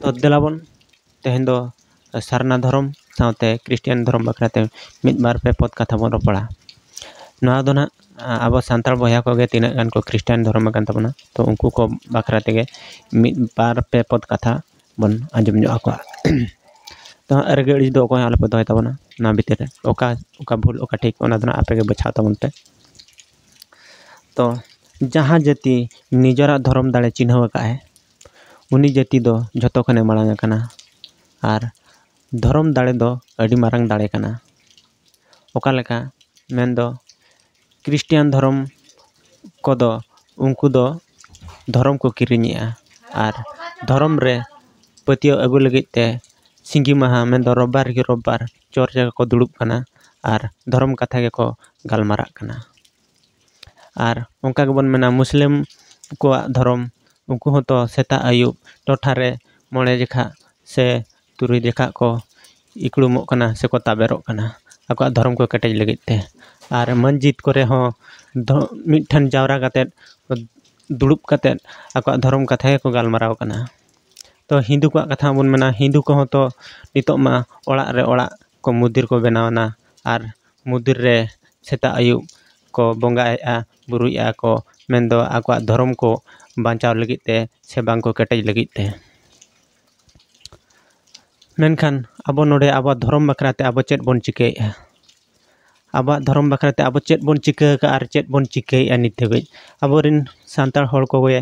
ᱛᱚ ᱫᱮᱞᱟ ᱵᱚᱱ ᱛᱮᱦᱮᱧ ᱫᱚ ᱥᱟᱨᱱᱟ ᱫᱷᱚᱨᱚᱢ ᱥᱟᱶᱛᱮ ᱠᱷᱨᱤᱥᱴᱟᱱ ᱫᱷᱚᱨᱚᱢ ᱵᱟᱠᱷᱨᱟ ᱛᱮ ᱢᱤᱫ ᱵᱟᱨ ᱯᱮ ᱯᱚᱫ ᱠᱟᱛᱷᱟ ᱵᱚᱱ ᱨᱚᱯᱚᱲᱟ ᱱᱚᱣᱟ ᱫᱚ ᱦᱟᱸᱜ ᱟᱵᱚ ᱥᱟᱱᱛᱟᱲ ᱵᱚᱭᱦᱟ ᱠᱚᱜᱮ ᱛᱤᱱᱟᱹᱜ ᱜᱟᱱ ᱠᱚ ᱠᱷᱨᱤᱥᱴᱟᱱ ᱫᱷᱚᱨᱚᱢ ᱟᱠᱟᱱ ᱛᱟᱵᱚᱱᱟ ᱛᱚ ᱩᱱᱠᱩ ᱠᱚ ᱵᱟᱠᱷᱨᱟ ᱛᱮᱜᱮ ᱢᱤᱫ ᱵᱟᱨ ᱯᱮ ᱯᱚᱫ ᱠᱟᱛᱷᱟ ᱵᱚᱱ ᱟᱸᱡᱚᱢ ᱧᱚᱜ ᱟᱠᱚᱣᱟ ᱛᱚ ᱦᱟᱸᱜ ᱨᱟᱹᱜᱤ ᱟᱹᱲᱤᱥ ᱫᱚ ᱚᱠᱚᱭ ᱦᱚᱸ ᱟᱞᱚ ᱯᱮ ᱫᱚᱦᱚᱭ ᱛᱟᱵᱚᱱᱟ ᱚᱱᱟ ᱵᱷᱤᱛᱤᱨ ᱨᱮ ᱚᱠᱟ ᱚᱠᱟ ᱵᱷᱩᱞ ᱚᱠᱟ ᱴᱷᱤᱠ ᱚᱱᱟ ᱫᱚ ᱦᱟᱸᱜ ᱟᱯᱮ ᱜᱮ ᱵᱟᱪᱷᱟᱣ ᱛᱟᱵᱚᱱ ᱯᱮ ᱛᱚ ᱡᱟᱦᱟᱸ ᱡᱟᱹᱛᱤ ᱱᱤᱡᱮᱨᱟᱜ ᱫᱷᱚᱨᱚᱢ ᱫᱟᱲᱮ ᱪᱤᱱᱦᱟᱹᱣ ᱟᱠᱟᱫ ᱟᱭ ᱩᱱᱤ ᱡᱟᱹᱛᱤ ᱫᱚ ᱡᱚᱛᱚ ᱠᱷᱚᱱᱮ ᱢᱟᱲᱟᱝ ᱟᱠᱟᱱᱟ ᱟᱨ ᱫᱷᱚᱨᱚᱢ ᱫᱟᱲᱮ ᱫᱚ ᱟᱹᱰᱤ ᱢᱟᱨᱟᱝ ᱫᱟᱲᱮ ᱠᱟᱱᱟ ᱚᱠᱟ ᱞᱮᱠᱟ ᱢᱮᱱ ᱫᱚ ᱠᱷᱨᱤᱥᱴᱟᱱ ᱫᱷᱚᱨᱚᱢ ᱠᱚᱫᱚ ᱩᱱᱠᱩ ᱫᱚ ᱫᱷᱚᱨᱚᱢ ᱠᱚ ᱠᱤᱨᱤᱧᱮᱜᱼᱟ ᱟᱨ ᱫᱷᱚᱨᱚᱢ ᱨᱮ ᱯᱟᱹᱛᱭᱟᱹᱣ ᱟᱹᱜᱩ ᱞᱟᱹᱜᱤᱫ ᱛᱮ ᱥᱤᱸᱜᱤ ᱢᱟᱦᱟ ᱢᱮᱱ ᱫᱚ ᱨᱳᱵᱽᱵᱟᱨ ᱠᱮ ᱨᱳᱵᱽᱵᱟᱨ ᱪᱚᱨᱪ ᱨᱮᱠᱚ ᱫᱩᱲᱩᱵ ᱠᱟᱱᱟ ᱟᱨ ᱫᱷᱚᱨᱚᱢ ᱠᱟᱛᱷᱟ ᱜᱮᱠᱚ ᱜᱟᱞᱢᱟᱨᱟᱜ ᱠᱟᱱᱟ ᱟᱨ ᱚᱱᱠᱟ ᱜᱮᱵᱚᱱ ᱢᱮᱱᱟ ᱢᱩᱥᱞᱟᱹᱢ ᱠᱚᱣᱟᱜ ᱫᱷᱚᱨᱚᱢ ᱩᱱᱠᱩ ᱦᱚᱸᱛᱚ ᱥᱮᱛᱟᱜ ᱟᱹᱭᱩᱵ ᱴᱚᱴᱷᱟ ᱨᱮ ᱢᱚᱬᱮ ᱡᱚᱠᱷᱟ ᱥᱮ ᱛᱩᱨᱩᱭ ᱡᱚᱠᱷᱟ ᱠᱚ ᱤᱠᱲᱩᱢᱚᱜ ᱠᱟᱱᱟ ᱥᱮᱠᱚ ᱛᱟᱵᱮᱨᱚᱜ ᱠᱟᱱᱟ ᱟᱠᱚᱣᱟᱜ ᱫᱷᱚᱨᱚᱢ ᱠᱚ ᱠᱮᱴᱮᱡ ᱞᱟᱹᱜᱤᱫ ᱛᱮ ᱟᱨ ᱢᱚᱥᱡᱤᱫ ᱠᱚᱨᱮ ᱦᱚᱸ ᱫᱷᱚ ᱢᱤᱫ ᱴᱷᱮᱱ ᱡᱟᱣᱨᱟ ᱠᱟᱛᱮ ᱫᱩᱲᱩᱵ ᱠᱟᱛᱮ ᱟᱠᱚᱣᱟᱜ ᱫᱷᱚᱨᱚᱢ ᱠᱟᱛᱷᱟ ᱜᱮᱠᱚ ᱜᱟᱞᱢᱟᱨᱟᱣ ᱠᱟᱱᱟ ᱛᱚ ᱦᱤᱱᱫᱩ ᱠᱚᱣᱟᱜ ᱠᱟᱛᱷᱟ ᱦᱚᱸᱵᱚᱱ ᱢᱮᱱᱟ ᱦᱤᱱᱫᱩ ᱠᱚᱦᱚᱸ ᱛᱚ ᱱᱤᱛᱚᱜ ᱢᱟ ᱚᱲᱟᱜ ᱨᱮ ᱚᱲᱟᱜ ᱠᱚ ᱢᱚᱱᱫᱤᱨ ᱠᱚ ᱵᱮᱱᱟᱣ ᱮᱱᱟ ᱟᱨ ᱢᱚᱱᱫᱤᱨ ᱨᱮ ᱥᱮᱛᱟᱜ ᱟᱹᱭᱩᱵ ᱠᱚ ᱵᱚᱸᱜᱟᱭᱮᱜᱼᱟ ᱵᱳᱨᱳᱭᱮᱜᱼᱟ ᱠᱚ ᱢᱮᱱᱫᱚ ᱟᱠᱚᱣᱟᱜ ᱫᱷᱚᱨᱚᱢ ᱠᱚ ᱵᱟᱧᱪᱟᱣ ᱞᱟᱹᱜᱤᱫ ᱛᱮ ᱥᱮ ᱵᱟᱝ ᱠᱚ ᱠᱮᱴᱮᱡ ᱞᱟᱹᱜᱤᱫ ᱛᱮ ᱢᱮᱱᱠᱷᱟᱱ ᱟᱵᱚ ᱱᱚᱰᱮ ᱟᱵᱚᱣᱟᱜ ᱫᱷᱚᱨᱚᱢ ᱵᱟᱠᱷᱨᱟ ᱛᱮ ᱟᱵᱚ ᱪᱮᱫ ᱵᱚᱱ ᱪᱤᱠᱟᱹᱭᱮᱜᱼᱟ ᱟᱵᱚᱣᱟᱜ ᱫᱷᱚᱨᱚᱢ ᱵᱟᱠᱷᱨᱟ ᱛᱮ ᱟᱵᱚ ᱪᱮᱫ ᱵᱚᱱ ᱪᱤᱠᱟᱹ ᱠᱟᱜᱼᱟ ᱟᱨ ᱪᱮᱫ ᱵᱚᱱ ᱪᱤᱠᱟᱹᱭᱮᱜᱼᱟ ᱱᱤᱛ ᱫᱷᱟᱹᱵᱤᱡ ᱟᱵᱚ ᱨᱮᱱ ᱥᱟᱱᱛᱟᱲ ᱦᱚᱲ ᱠᱚᱜᱮ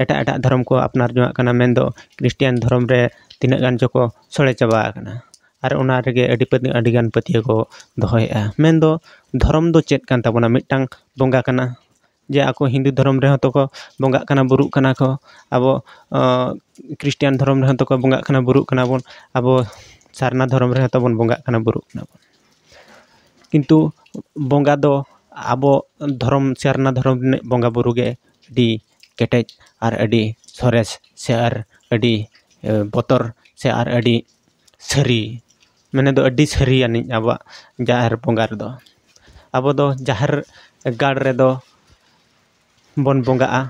ᱮᱴᱟᱜ ᱮᱴᱟᱜ ᱫᱷᱚᱨᱚᱢ ᱠᱚ ᱟᱯᱱᱟᱨ ᱡᱚᱱᱟᱜ ᱠᱟᱱᱟ ᱢᱮᱱᱫᱚ ᱠᱷᱨᱤᱥᱴᱟᱱ ᱫᱷᱚᱨᱚᱢ ᱨᱮ ᱛᱤᱱᱟᱹᱜ ᱜᱟᱱ ᱪᱚᱠᱚ ᱥᱚᱲᱮ ᱪᱟᱵᱟ ᱟᱠᱟᱱᱟ ᱟᱨ ᱚᱱᱟ ᱨᱮᱜᱮ ᱟᱹᱰᱤ ᱯᱟᱹᱛᱭᱟᱹᱣ ᱟᱹᱰᱤ ᱜᱟᱱ ᱯᱟᱹᱛᱭᱟᱹᱣ ᱠᱚ ᱫᱚᱦᱚᱭᱮᱜᱼᱟ ᱢᱮᱱ ᱫᱚ ᱫᱷᱚᱨᱚᱢ ᱫᱚ ᱪᱮᱫ ᱠᱟᱱ ᱛᱟᱵᱚᱱᱟ ᱢᱤᱫᱴᱟᱝ ᱵᱚᱸᱜᱟ ᱠᱟᱱᱟ ᱡᱮ ᱟᱠᱚ ᱦᱤᱱᱫᱩ ᱫᱷᱚᱨᱚᱢ ᱨᱮᱦᱚᱸ ᱛᱚᱠᱚ ᱵᱚᱸᱜᱟᱜ ᱠᱟᱱᱟ ᱵᱩᱨᱩᱜ ᱠᱟᱱᱟ ᱠᱚ ᱟᱵᱚ ᱠᱷᱨᱤᱥᱴᱟᱱ ᱫᱷᱚᱨᱚᱢ ᱨᱮᱦᱚᱸ ᱛᱚᱠᱚ ᱵᱚᱸᱜᱟᱜ ᱠᱟᱱᱟ ᱵᱩᱨᱩᱜ ᱠᱟᱱᱟ ᱵᱚᱱ ᱟᱵᱚ ᱥᱟᱨᱱᱟ ᱫᱷᱚᱨᱚᱢ ᱨᱮᱦᱚᱸ ᱛᱚᱵᱚᱱ ᱵᱚᱸᱜᱟᱜ ᱠᱟᱱᱟ ᱵᱩᱨᱩᱜ ᱠᱟᱱᱟ ᱵᱚᱱ ᱠᱤᱱᱛᱩ ᱵᱚᱸᱜᱟ ᱫᱚ ᱟᱵᱚ ᱫᱷᱚᱨᱚᱢ ᱥᱟᱨᱱᱟ ᱫᱷᱚᱨᱚᱢ ᱨᱤᱱᱤᱡ ᱵᱚᱸᱜᱟ ᱵᱳᱨᱳ ᱜᱮ ᱟᱹᱰᱤ ᱠᱮᱴᱮᱡ ᱟᱨ ᱟᱹᱰᱤ ᱥᱚᱨᱮᱥ ᱥᱮ ᱟᱨ ᱟᱹᱰᱤ ᱵᱚᱛᱚᱨ ᱥᱮ ᱟᱨ ᱟᱹᱰᱤ ᱥᱟᱹᱨᱤ ᱢᱟᱱᱮ ᱫᱚ ᱟᱹᱰᱤ ᱥᱟᱹᱨᱤ ᱟᱹᱱᱤᱡ ᱟᱵᱚᱣᱟᱜ ᱡᱟᱦᱮᱨ ᱵᱚᱸᱜᱟ ᱨᱮᱫᱚ ᱟᱵᱚ ᱫᱚ ᱡᱟᱦᱮᱨ ᱜᱟᱲ ᱨᱮᱫᱚ ᱵᱚᱱ ᱵᱚᱸᱜᱟᱜᱼᱟ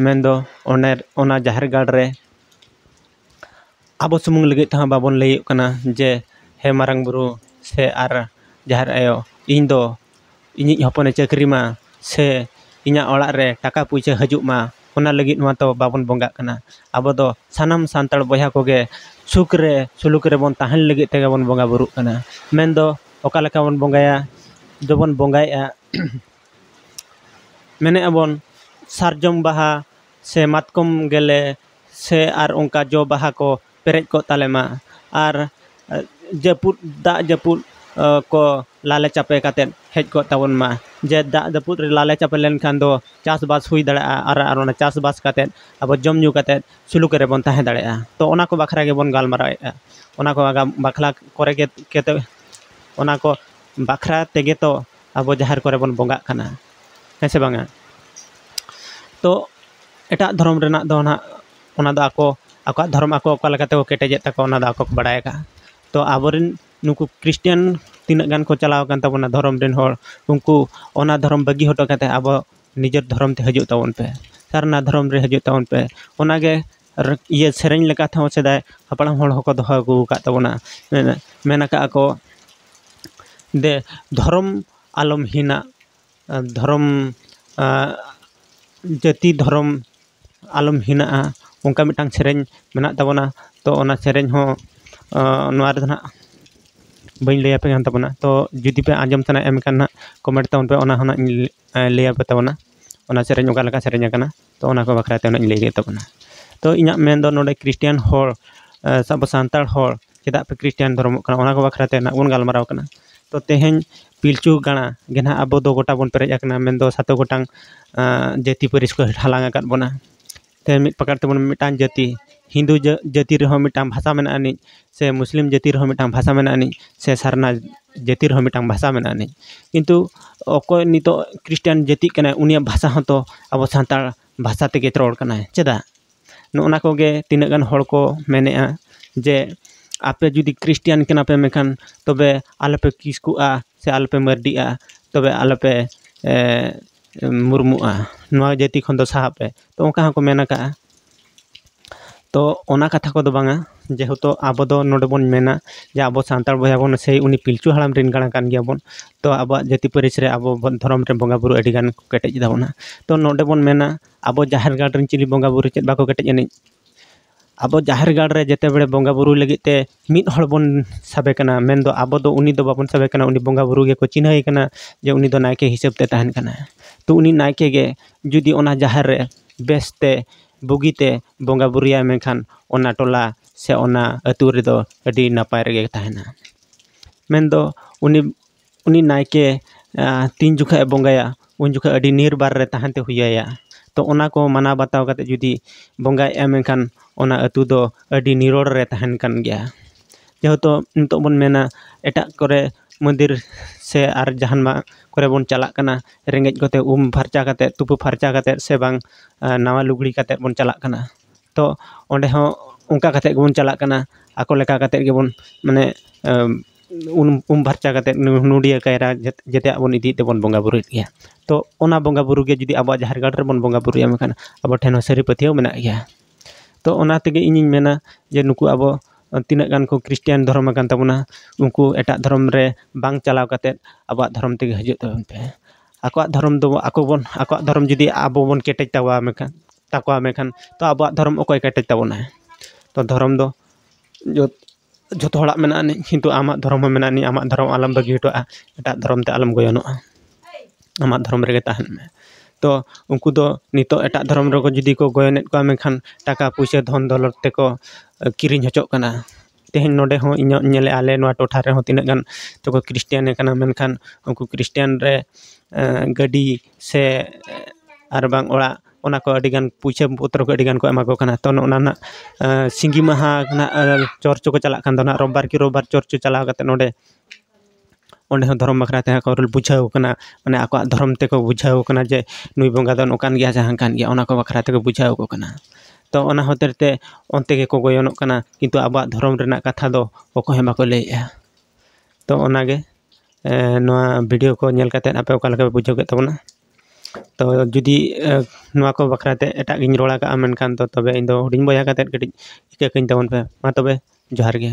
ᱢᱮᱱ ᱫᱚ ᱚᱱᱮ ᱚᱱᱟ ᱡᱟᱦᱮᱨ ᱜᱟᱲ ᱨᱮ ᱟᱵᱚ ᱥᱩᱢᱩᱝ ᱞᱟᱹᱜᱤᱫ ᱛᱮᱦᱚᱸ ᱵᱟᱵᱚᱱ ᱞᱟᱹᱭᱟᱹᱜ ᱠᱟᱱᱟ ᱡᱮ ᱦᱮᱸ ᱢᱟᱨᱟᱝ ᱵᱳᱨᱳ ᱥᱮ ᱟᱨ ᱡᱟᱦᱮᱨ ᱟᱭᱳ ᱤᱧ ᱫᱚ ᱤᱧᱤᱡ ᱦᱚᱯᱚᱱᱮ ᱪᱟᱹᱠᱨᱤ ᱢᱟ ᱥᱮ ᱤᱧᱟᱹᱜ ᱚᱲᱟᱜ ᱨᱮ ᱴᱟᱠᱟ ᱯᱩᱭᱥᱟᱹ ᱦᱤᱡᱩᱜ ᱢᱟ ᱚᱱᱟ ᱞᱟᱹᱜᱤᱫ ᱢᱟᱛᱚ ᱵᱟᱵᱚᱱ ᱵᱚᱸᱜᱟᱜ ᱠᱟᱱᱟ ᱟᱵᱚ ᱫᱚ ᱥᱟᱱᱟᱢ ᱥᱟᱱᱛᱟᱲ ᱵᱚᱭᱦᱟ ᱠᱚᱜᱮ ᱥᱩᱠ ᱨᱮ ᱥᱩᱞᱩᱠ ᱨᱮᱵᱚᱱ ᱛᱟᱦᱮᱱ ᱞᱟᱹᱜᱤᱫ ᱛᱮᱜᱮ ᱵᱚᱱ ᱵᱚᱸᱜᱟ ᱵᱳᱨᱳᱜ ᱠᱟᱱᱟ ᱢᱮᱱ ᱫᱚ ᱚᱠᱟ ᱞᱮᱠᱟ ᱵᱚᱱ ᱵᱚᱸᱜᱟᱭᱟ ᱫᱚᱵᱚᱱ ᱵᱚᱸᱜᱟᱭᱮᱜᱼᱟ ᱢᱮᱱᱮᱜᱼᱟ ᱵᱚᱱ ᱥᱟᱨᱡᱚᱢ ᱵᱟᱦᱟ ᱥᱮ ᱢᱟᱛᱠᱚᱢ ᱜᱮᱞᱮ ᱥᱮ ᱟᱨ ᱚᱱᱠᱟ ᱡᱚ ᱵᱟᱦᱟ ᱠᱚ ᱯᱮᱨᱮᱡ ᱠᱚᱜ ᱛᱟᱞᱮ ᱢᱟ ᱟᱨ ᱡᱟᱹᱯᱩᱫ ᱫᱟᱜ ᱡᱟᱹᱯᱩᱫ ᱠᱚ ᱞᱟᱞᱮ ᱪᱟᱯᱮ ᱠᱟᱛᱮᱫ ᱦᱮᱡ ᱠᱚᱜ ᱛᱟᱵᱚᱱ ᱢᱟ ᱡᱮ ᱫᱟᱜ ᱡᱟᱹᱯᱩᱫ ᱨᱮ ᱞᱟᱞᱮ ᱪᱟᱯᱮ ᱞᱮᱱᱠᱷᱟᱱ ᱫᱚ ᱪᱟᱥ ᱵᱟᱥ ᱦᱩᱭ ᱫᱟᱲᱮᱭᱟᱜᱼᱟ ᱟᱨ ᱟᱨ ᱚᱱᱟ ᱪᱟᱥ ᱵᱟᱥ ᱠᱟᱛᱮᱫ ᱟᱵᱚ ᱡᱚᱢ ᱧᱩ ᱠᱟᱛᱮᱫ ᱥᱩᱞᱩᱠ ᱨᱮᱵᱚᱱ ᱛᱟᱦᱮᱸ ᱫᱟᱲᱮᱭᱟᱜᱼᱟ ᱛᱚ ᱚᱱᱟ ᱠᱚ ᱵᱟᱠᱷᱨᱟ ᱜᱮᱵᱚᱱ ᱜᱟᱞᱢᱟᱨᱟᱣᱮᱜᱼᱟ ᱚᱱᱟ ᱠᱚ ᱟᱜᱟᱢ ᱵᱟᱠᱷᱨᱟ ᱠᱚᱨᱮ ᱜᱮ ᱠᱮᱛᱚ ᱚᱱᱟ ᱠᱚ ᱵᱟᱠᱷᱨᱟ ᱛᱮᱜᱮ ᱛᱚ ᱟᱵᱚ ᱡᱟᱦᱮᱨ ᱠᱚᱨᱮ ᱵᱚᱱ ᱵᱚᱸᱜᱟᱜ ᱠᱟᱱᱟ ᱦᱮᱸ ᱥᱮ ᱵᱟᱝᱟ ᱛᱚ ᱮᱴᱟᱜ ᱫᱷᱚᱨᱚᱢ ᱨᱮᱱᱟᱜ ᱫᱚ ᱱᱟᱜ ᱚᱱᱟ ᱫᱚ ᱟᱠᱚ ᱟᱠᱚᱣᱟᱜ ᱫᱷᱚᱨᱚᱢ ᱟᱠᱚ ᱚᱠᱟ ᱞᱮᱠᱟ ᱛᱮᱠᱚ ᱠᱮᱴᱮᱡᱮᱫ ᱛᱟᱠᱚᱣᱟ ᱚᱱᱟ ᱫᱚ ᱟᱠᱚ ᱠᱚ ᱵᱟᱲᱟᱭ ᱟᱠᱟᱫᱼᱟ ᱛᱚ ᱟᱵᱚ ᱨᱮᱱ ᱱᱩᱠᱩ ᱠᱷᱨᱤᱥᱴᱟᱱ ᱛᱤᱱᱟᱹᱜ ᱜᱟᱱ ᱠᱚ ᱪᱟᱞᱟᱣ ᱟᱠᱟᱱ ᱛᱟᱵᱚᱱᱟ ᱫᱷᱚᱨᱚᱢ ᱨᱮᱱ ᱦᱚᱲ ᱩᱱᱠᱩ ᱚᱱᱟ ᱫᱷᱚᱨᱚᱢ ᱵᱟᱹᱜᱤ ᱦᱚᱴᱚ ᱠᱟᱛᱮᱫ ᱟᱵᱚ ᱱᱤᱡᱮᱨ ᱫᱷᱚᱨᱚᱢ ᱛᱮ ᱦᱤᱡᱩᱜ ᱛᱟᱵᱚᱱ ᱯᱮ ᱥᱟᱨᱱᱟ ᱫᱷᱚᱨᱚᱢ ᱨᱮ ᱦᱤᱡᱩᱜ ᱛᱟᱵᱚᱱ ᱯᱮ ᱚᱱᱟ ᱜᱮ ᱤᱭᱟᱹ ᱥᱮᱨᱮᱧ ᱞᱮᱠᱟ ᱛᱮᱦᱚᱸ ᱥᱮᱫᱟᱭ ᱦᱟᱯᱲᱟᱢ ᱦᱚᱲ ᱦᱚᱸᱠᱚ ᱫᱚᱦᱚ ᱟᱹᱜᱩ ᱟᱠᱟᱫ ᱛᱟᱵᱚᱱᱟ ᱢᱮᱱ ᱟᱠᱟᱫᱼᱟ ᱠᱚ ᱫᱮ ᱫᱷᱚᱨᱚᱢ ᱟᱞᱚᱢ ᱦᱤᱱᱟ ᱟᱨ ᱫᱷᱚᱨᱚᱢ ᱡᱟᱹᱛᱤ ᱫᱷᱚᱨᱚᱢ ᱟᱞᱚᱢ ᱦᱤᱱᱟᱜᱼᱟ ᱚᱱᱠᱟ ᱢᱤᱫᱴᱟᱝ ᱥᱮᱨᱮᱧ ᱢᱮᱱᱟᱜ ᱛᱟᱵᱚᱱᱟ ᱛᱚ ᱚᱱᱟ ᱥᱮᱨᱮᱧ ᱦᱚᱸ ᱱᱚᱣᱟ ᱨᱮᱫᱚ ᱱᱟᱜ ᱵᱟᱹᱧ ᱞᱟᱹᱭ ᱟᱯᱮ ᱠᱟᱱ ᱛᱟᱵᱚᱱᱟ ᱛᱚ ᱡᱩᱫᱤ ᱯᱮ ᱟᱸᱡᱚᱢ ᱥᱟᱱᱟᱭᱮᱫ ᱯᱮᱠᱷᱟᱱ ᱱᱟᱜ ᱠᱚᱢᱮᱱᱴ ᱛᱟᱵᱚᱱ ᱯᱮ ᱚᱱᱟ ᱦᱚᱸ ᱱᱟᱜ ᱤᱧ ᱞᱟᱹᱭ ᱟᱯᱮ ᱛᱟᱵᱚᱱᱟ ᱚᱱᱟ ᱥᱮᱨᱮᱧ ᱚᱠᱟ ᱞᱮᱠᱟ ᱥᱮᱨᱮᱧ ᱟᱠᱟᱱᱟ ᱛᱚ ᱚᱱᱟ ᱠᱚ ᱵᱟᱠᱷᱨᱟ ᱛᱮ ᱱᱟᱜ ᱤᱧ ᱞᱟᱹᱭ ᱠᱮᱫ ᱛᱟᱵᱚᱱᱟ ᱛᱚ ᱤᱧᱟᱹᱜ ᱢᱮᱱ ᱫᱚ ᱱᱚᱰᱮ ᱠᱷᱨᱤᱥᱴᱟᱱ ᱦᱚᱲ ᱥᱮ ᱟᱵᱚ ᱥᱟᱱᱛᱟᱲ ᱦᱚᱲ ᱪᱮᱫᱟᱜ ᱯᱮ ᱠᱷᱨᱤᱥᱴᱟᱱ ᱫᱷᱚᱨᱚᱢᱚᱜ ᱠᱟᱱᱟ ᱚᱱᱟ ᱠᱚ ᱵᱟᱠᱷᱨᱟ ᱛᱮ ᱱᱟᱜ ᱵᱚᱱ ᱜᱟᱞᱢᱟᱨᱟᱣ ᱠᱟᱱᱟ ᱛᱚ ᱛᱮᱦᱮᱧ ᱯᱤᱞᱪᱩ ᱜᱟᱲᱟ ᱜᱮ ᱱᱟᱜ ᱟᱵᱚ ᱫᱚ ᱜᱚᱴᱟ ᱵᱚᱱ ᱯᱮᱨᱮᱡ ᱟᱠᱟᱱᱟ ᱢᱮᱱ ᱫᱚ ᱥᱟᱛᱮ ᱜᱚᱴᱟᱝ ᱡᱟᱹᱛᱤ ᱯᱟᱹᱨᱤᱥ ᱠᱚ ᱦᱟᱞᱟᱝ ᱟᱠᱟᱫ ᱵᱚᱱᱟ ᱛᱮᱦᱮᱧ ᱢᱤᱫ ᱯᱟᱠᱟᱲ ᱛᱮᱵᱚᱱ ᱢᱤᱫᱴᱟᱝ ᱡᱟᱹᱛᱤ ᱦᱤᱱᱫᱩ ᱡᱟᱹᱛᱤ ᱨᱮᱦᱚᱸ ᱢᱤᱫᱴᱟᱝ ᱵᱷᱟᱥᱟ ᱢᱮᱱᱟᱜ ᱟᱹᱱᱤᱡ ᱥᱮ ᱢᱩᱥᱞᱤᱢ ᱡᱟᱹᱛᱤ ᱨᱮᱦᱚᱸ ᱢᱤᱫᱴᱟᱝ ᱵᱷᱟᱥᱟ ᱢᱮᱱᱟᱜ ᱟᱹᱱᱤᱡ ᱥᱮ ᱥᱟᱨᱱᱟ ᱡᱟᱹᱛᱤ ᱨᱮᱦᱚᱸ ᱢᱤᱫᱴᱟᱝ ᱵᱷᱟᱥᱟ ᱢᱮᱱᱟᱜ ᱟᱹᱱᱤᱡ ᱠᱤᱱᱛᱩ ᱚᱠᱚᱭ ᱱᱤᱛᱚᱜ ᱠᱷᱨᱤᱥᱴᱟᱱ ᱡᱟᱹᱛᱤ ᱠᱟᱱᱟᱭ ᱩᱱᱤᱭᱟᱜ ᱵᱷᱟᱥᱟ ᱦᱚᱸᱛᱚ ᱟᱵᱚ ᱥᱟᱱᱛᱟᱲ ᱵᱷᱟᱥᱟ ᱛᱮᱜᱮ ᱨᱚᱲ ᱠᱟᱱᱟᱭ ᱪᱮᱫᱟᱜ ᱱᱚᱜᱼᱚ ᱱᱟ ᱠᱚᱜᱮ ᱛᱤᱱᱟᱹᱜ ᱜᱟᱱ ᱦᱚᱲ ᱠᱚ ᱢᱮᱱᱮᱜᱼᱟ ᱡᱮ ᱟᱯᱮ ᱡᱩᱫᱤ ᱠᱷᱨᱤᱥᱴᱟᱱ ᱠᱟᱱᱟ ᱯᱮ ᱢᱮᱱᱠᱷᱟᱱ ᱛᱚᱵᱮ ᱟᱞᱚ ᱯᱮ ᱠᱤᱥᱠᱩᱜᱼᱟ ᱥᱮ ᱟᱞᱚ ᱯᱮ ᱢᱟᱹᱨᱰᱤᱜᱼᱟ ᱛᱚᱵᱮ ᱟᱞᱚ ᱯᱮ ᱢᱩᱨᱢᱩᱜᱼᱟ ᱱᱚᱣᱟ ᱡᱟᱹᱛᱤ ᱠᱷᱚᱱ ᱫᱚ ᱥᱟᱦᱟᱜ ᱯᱮ ᱛᱚ ᱚᱱᱠᱟ ᱦᱚᱸᱠᱚ ᱢᱮᱱ ᱠᱟᱜᱼᱟ ᱛᱚ ᱚᱱᱟ ᱠᱟᱛᱷᱟ ᱠᱚᱫᱚ ᱵᱟᱝᱟ ᱡᱮᱦᱮᱛᱩ ᱟᱵᱚ ᱫᱚ ᱱᱚᱰᱮ ᱵᱚᱱ ᱢᱮᱱᱟ ᱡᱮ ᱟᱵᱚ ᱥᱟᱱᱛᱟᱲ ᱵᱚᱭᱦᱟ ᱵᱚᱱ ᱥᱮ ᱩᱱᱤ ᱯᱤᱞᱪᱩ ᱦᱟᱲᱟᱢ ᱨᱮᱱ ᱜᱟᱬᱟ ᱠᱟᱱ ᱜᱮᱭᱟ ᱵᱚᱱ ᱛᱚ ᱟᱵᱚᱣᱟᱜ ᱡᱟᱹᱛᱤ ᱯᱟᱹᱨᱤᱥ ᱨᱮ ᱟᱵᱚ ᱵᱚᱱ ᱫᱷᱚᱨᱚᱢ ᱨᱮ ᱵᱚᱸᱜᱟ ᱵᱳᱨᱳ ᱟᱹᱰᱤ ᱜᱟᱱ ᱠᱚ ᱠᱮᱴᱮᱡ ᱜᱮᱛᱟ ᱵᱚᱱᱟ ᱛᱚ ᱱᱚᱰᱮ ᱵᱚᱱ ᱢᱮᱱᱟ ᱟᱵᱚ ᱡᱟᱦᱮᱨ ᱜᱟᱲ ᱨᱮᱱ ᱪᱤᱞᱤ ᱵᱚᱸᱜᱟ ᱵᱳᱨᱳ ᱪᱮᱫ ᱵᱟᱠᱚ ᱠᱮᱴᱮᱡ ᱟᱹᱱᱤᱡ ᱟᱵᱚ ᱡᱟᱦᱮᱨ ᱜᱟᱲ ᱨᱮ ᱡᱮᱛᱮ ᱵᱟᱲᱮ ᱵᱚᱸᱜᱟ ᱵᱳᱨᱳ ᱞᱟᱹᱜᱤᱫ ᱛᱮ ᱢᱤᱫ ᱦᱚᱲ ᱵᱚᱱ ᱥᱟᱵᱮ ᱠᱟᱱᱟ ᱢᱮᱱ ᱫᱚ ᱟᱵᱚ ᱫᱚ ᱩᱱᱤ ᱫᱚ ᱵᱟᱵᱚᱱ ᱥᱟᱵᱮ ᱠᱟᱱᱟ ᱩᱱᱤ ᱵᱚᱸᱜᱟ ᱵᱳᱨᱳ ᱜᱮᱠᱚ ᱪᱤᱱᱦᱟᱹᱣᱮ ᱠᱟᱱᱟ ᱡᱮ ᱩᱱᱤ ᱫᱚ ᱱᱟᱭᱠᱮ ᱦᱤᱥᱟᱹᱵ ᱛᱮ ᱛᱟᱦᱮᱱ ᱠᱟᱱᱟᱭ ᱛᱚ ᱩᱱᱤ ᱱᱟᱭᱠᱮ ᱜᱮ ᱡᱩᱫᱤ ᱚᱱᱟ ᱡᱟᱦᱮᱨ ᱨᱮ ᱵᱮᱥ ᱛᱮ ᱵᱩᱜᱤ ᱛᱮ ᱵᱚᱸᱜᱟ ᱵᱳᱨᱳᱭᱟᱭ ᱢᱮᱱᱠᱷᱟᱱ ᱚᱱᱟ ᱴᱚᱞᱟ ᱥᱮ ᱚᱱᱟ ᱟᱛᱳ ᱨᱮᱫᱚ ᱟᱹᱰᱤ ᱱᱟᱯᱟᱭ ᱨᱮᱜᱮ ᱛᱟᱦᱮᱱᱟ ᱢᱮᱱ ᱫᱚ ᱩᱱᱤ ᱩᱱᱤ ᱱᱟᱭᱠᱮ ᱛᱤᱱ ᱡᱚᱠᱷᱚᱡ ᱮ ᱵᱚᱸᱜᱟᱭᱟ ᱩᱱ ᱡᱚᱠᱷᱚᱡ ᱟᱹᱰᱤ ᱱᱤᱨᱵᱟᱨ ᱨᱮ ᱛᱟᱦᱮᱱ ᱛᱮ ᱦᱩᱭ ᱟᱭᱟ ᱛᱚ ᱚᱱᱟ ᱠᱚ ᱢᱟᱱᱟᱣ ᱵᱟᱛᱟᱣ ᱠᱟᱛᱮ ᱡᱩᱫᱤ ᱵᱚᱸᱜᱟᱭ ᱮᱢ ᱮᱱᱠᱷᱟᱱ ᱚᱱᱟ ᱟᱛᱳ ᱫᱚ ᱟᱹᱰᱤ ᱱᱤᱨᱚᱲ ᱨᱮ ᱛᱟᱦᱮᱱ ᱠᱟᱱ ᱜᱮᱭᱟ ᱡᱮᱦᱮᱛᱩ ᱱᱤᱛᱚᱜ ᱵᱚᱱ ᱢᱮᱱᱟ ᱮᱴᱟᱜ ᱠᱚᱨᱮ ᱢᱚᱱᱫᱤᱨ ᱥᱮ ᱟᱨ ᱡᱟᱦᱟᱱᱟᱜ ᱠᱚᱨᱮ ᱵᱚᱱ ᱪᱟᱞᱟᱜ ᱠᱟᱱᱟ ᱨᱮᱸᱜᱮᱡ ᱠᱚᱛᱮ ᱩᱢ ᱯᱷᱟᱨᱪᱟ ᱠᱟᱛᱮ ᱛᱩᱯᱩ ᱯᱷᱟᱨᱪᱟ ᱠᱟᱛᱮ ᱥᱮ ᱵᱟᱝ ᱱᱟᱣᱟ ᱞᱩᱜᱽᱲᱤ ᱠᱟᱛᱮ ᱵᱚᱱ ᱪᱟᱞᱟᱜ ᱠᱟᱱᱟ ᱛᱚ ᱚᱸᱰᱮ ᱦᱚᱸ ᱚᱱᱠᱟ ᱠᱟᱛᱮ ᱜᱮᱵᱚᱱ ᱪᱟᱞᱟᱜ ᱠᱟᱱᱟ ᱟᱠᱚ ᱞᱮᱠᱟ ᱠᱟᱛᱮ ᱜᱮᱵᱚᱱ ᱢᱟᱱᱮ ᱩᱢ ᱩᱢ ᱯᱷᱟᱨᱪᱟ ᱠᱟᱛᱮᱫ ᱱᱚᱰᱤᱭᱟᱹ ᱠᱟᱭᱨᱟ ᱡᱮᱛᱮᱭᱟᱜ ᱵᱚᱱ ᱤᱫᱤᱭᱮᱫ ᱛᱮᱵᱚᱱ ᱵᱚᱸᱜᱟ ᱵᱳᱨᱳᱭᱮᱫ ᱜᱮᱭᱟ ᱛᱚ ᱚᱱᱟ ᱵᱚᱸᱜᱟ ᱵᱳᱨᱳ ᱜᱮ ᱡᱩᱫᱤ ᱟᱵᱚᱣᱟᱜ ᱡᱟᱦᱮᱨ ᱜᱟᱲ ᱨᱮᱵᱚᱱ ᱵᱚᱸᱜᱟ ᱵᱳᱨᱳᱭᱟ ᱢᱮᱱᱠᱷᱟᱱ ᱟᱵᱚ ᱴᱷᱮᱱ ᱦᱚᱸ ᱥᱟᱹᱨᱤ ᱯᱟᱹᱛᱭᱟᱹᱣ ᱢᱮᱱᱟᱜ ᱜᱮᱭᱟ ᱛᱚ ᱚᱱᱟ ᱛᱮᱜᱮ ᱤᱧᱤᱧ ᱢᱮᱱᱟ ᱡᱮ ᱱᱩᱠᱩ ᱟᱵᱚ ᱛᱤᱱᱟᱹᱜ ᱜᱟᱱ ᱠᱚ ᱠᱷᱨᱤᱥᱴᱟᱱ ᱫᱷᱚᱨᱚᱢ ᱟᱠᱟᱱ ᱛᱟᱵᱚᱱᱟ ᱩᱱᱠᱩ ᱮᱴᱟᱜ ᱫᱷᱚᱨᱚᱢ ᱨᱮ ᱵᱟᱝ ᱪᱟᱞᱟᱣ ᱠᱟᱛᱮᱫ ᱟᱵᱚᱣᱟᱜ ᱫᱷᱚᱨᱚᱢ ᱛᱮᱜᱮ ᱦᱤᱡᱩᱜ ᱛᱟᱵᱚᱱ ᱯᱮ ᱟᱠᱚᱣᱟᱜ ᱫᱷᱚᱨᱚᱢ ᱫᱚ ᱟᱠᱚ ᱵᱚᱱ ᱟᱠᱚᱣᱟᱜ ᱫᱷᱚᱨᱚᱢ ᱡᱩᱫᱤ ᱟᱵᱚ ᱵᱚᱱ ᱠᱮᱴᱮᱡ ᱛᱟᱵᱚᱣᱟ ᱢᱮᱱᱠᱷᱟᱱ ᱛᱟᱠᱚᱣᱟ ᱢᱮᱱᱠᱷᱟᱱ ᱛᱚ ᱟᱵᱚᱣᱟᱜ ᱫᱷᱚᱨᱚᱢ ᱚᱠᱚᱭ ᱠᱮᱴᱮᱡ ᱛᱟᱵᱚᱱᱟᱭ ᱛᱚ ᱫᱷᱚᱨᱚᱢ ᱫᱚ ᱡᱷᱚᱛᱚ ᱦᱚᱲᱟᱜ ᱢᱮᱱᱟᱜ ᱟᱹᱱᱤᱡ ᱠᱤᱱᱛᱩ ᱟᱢᱟᱜ ᱫᱷᱚᱨᱚᱢ ᱦᱚᱸ ᱢᱮᱱᱟᱜ ᱟᱹᱱᱤᱡ ᱟᱢᱟᱜ ᱫᱷᱚᱨᱚᱢ ᱟᱞᱚᱢ ᱵᱟᱹᱜᱤ ᱦᱚᱴᱚᱣᱟᱜᱼᱟ ᱮᱴᱟᱜ ᱫᱷᱚᱨᱚᱢ ᱛᱮ ᱟᱞᱚᱢ ᱜᱚᱭᱚᱱᱚᱜᱼᱟ ᱟᱢᱟᱜ ᱫᱷᱚᱨᱚᱢ ᱨᱮᱜᱮ ᱛᱟᱦᱮᱱ ᱢᱮ ᱛᱚ ᱩᱱᱠᱩ ᱫᱚ ᱱᱤᱛᱚᱜ ᱮᱴᱟᱜ ᱫᱷᱚᱨᱚᱢ ᱨᱮᱠᱚ ᱡᱩᱫᱤ ᱠᱚ ᱜᱚᱭᱚᱱᱮᱫ ᱠᱚᱣᱟ ᱢᱮᱱᱠᱷᱟᱱ ᱴᱟᱠᱟ ᱯᱩᱭᱥᱟᱹ ᱫᱷᱚᱱ ᱫᱚᱣᱞᱚᱛ ᱛᱮᱠᱚ ᱠᱤᱨᱤᱧ ᱦᱚᱪᱚᱜ ᱠᱟᱱᱟ ᱛᱮᱦᱮᱧ ᱱᱚᱰᱮ ᱦᱚᱸ ᱤᱧᱟᱹᱜ ᱧᱮᱞ ᱮᱫᱼᱟ ᱟᱞᱮ ᱱᱚᱣᱟ ᱴᱚᱴᱷᱟ ᱨᱮᱦᱚᱸ ᱛᱤᱱᱟᱹᱜ ᱜᱟᱱ ᱛᱚᱠᱚ ᱠᱷᱨᱤᱥᱴᱟᱱ ᱟᱠᱟᱱᱟ ᱢᱮᱱᱠᱷᱟᱱ ᱩᱱᱠᱩ ᱠᱷᱨᱤᱥᱴᱟᱱ ᱨᱮ ᱜᱟᱹᱰᱤ ᱥᱮ ᱟᱨ ᱵᱟᱝ ᱚᱲᱟᱜ ᱚᱱᱟ ᱠᱚ ᱟᱹᱰᱤ ᱜᱟᱱ ᱯᱩᱭᱥᱟᱹ ᱯᱚᱛᱨᱚ ᱠᱚ ᱟᱹᱰᱤ ᱜᱟᱱ ᱠᱚ ᱮᱢᱟ ᱠᱚ ᱠᱟᱱᱟ ᱛᱚ ᱱᱚᱜᱼᱚ ᱱᱚᱣᱟ ᱨᱮᱱᱟᱜ ᱥᱤᱸᱜᱤ ᱢᱟᱦᱟ ᱨᱮᱱᱟᱜ ᱪᱚᱨᱪᱚ ᱠᱚ ᱪᱟᱞᱟᱜ ᱠᱟᱱ ᱫᱚ ᱚᱱᱟ ᱨᱳᱵᱽᱵᱟᱨ ᱠᱤ ᱨᱳᱵᱽᱵᱟᱨ ᱪᱚᱨᱪᱚ ᱪᱟᱞᱟᱣ ᱠᱟᱛᱮᱫ ᱱᱚᱰᱮ ᱚᱸᱰᱮ ᱦᱚᱸ ᱫᱷᱚᱨᱚᱢ ᱵᱟᱠᱷᱨᱟ ᱛᱮ ᱠᱚ ᱵᱩᱡᱷᱟᱹᱣ ᱠᱟᱱᱟ ᱢᱟᱱᱮ ᱟᱠᱚᱣᱟᱜ ᱫᱷᱚᱨᱚᱢ ᱛᱮᱠᱚ ᱵᱩᱡᱷᱟᱹᱣ ᱠᱟᱱᱟ ᱡᱮ ᱱᱩᱭ ᱵᱚᱸᱜᱟ ᱫᱚ ᱱᱚᱝᱠᱟᱱ ᱜᱮᱭᱟᱭ ᱥᱮ ᱦᱟᱝᱠᱟᱱ ᱜᱮᱭᱟᱭ ᱚᱱᱟ ᱠᱚ ᱵᱟᱠᱷᱨᱟ ᱛᱮᱠᱚ ᱵᱩᱡᱷᱟᱹᱣ ᱠᱚ ᱠᱟᱱᱟ ᱛᱚ ᱚᱱᱟ ᱦᱚᱛᱮᱡ ᱛᱮ ᱚᱱᱛᱮ ᱜᱮᱠᱚ ᱜᱚᱭᱚᱱᱚᱜ ᱠᱟᱱᱟ ᱠᱤᱱᱛᱩ ᱟᱵᱚᱣᱟᱜ ᱫᱷᱚᱨᱚᱢ ᱨᱮᱱᱟᱜ ᱠᱟᱛᱷᱟ ᱫᱚ ᱚᱠᱚᱭ ᱦᱚᱸ ᱵᱟᱠᱚ ᱞᱟᱹᱭᱮᱜᱼᱟ ᱛᱚ ᱚᱱᱟᱜᱮ ᱱᱚᱣᱟ ᱵᱷᱤᱰᱭᱳ ᱠᱚ ᱧᱮᱞ ᱠᱟᱛᱮᱫ ᱟᱯᱮ ᱚᱠᱟ ᱞᱮᱠᱟ ᱯᱮ ᱵᱩᱡᱷᱟᱹᱣ ᱠᱮᱫ ᱛᱟᱵᱚᱱᱟ ᱛᱚ ᱡᱩᱫᱤ ᱱᱚᱣᱟ ᱠᱚ ᱵᱟᱠᱷᱨᱟ ᱛᱮ ᱮᱴᱟᱜ ᱜᱤᱧ ᱨᱚᱲ ᱟᱠᱟᱫᱼᱟ ᱢᱮᱱᱠᱷᱟᱱ ᱫᱚ ᱛᱚᱵᱮ ᱤᱧ ᱫᱚ ᱦᱩᱰᱤᱧ ᱵᱚᱭᱦᱟ ᱠᱟᱛᱮᱫ ᱠᱟᱹᱴᱤᱡ ᱤᱠᱟᱹ ᱠᱟᱹᱧ ᱛᱟᱵᱚᱱ ᱯᱮ ᱢᱟ ᱛᱚᱵᱮ ᱡᱚᱦᱟᱨ ᱜᱮ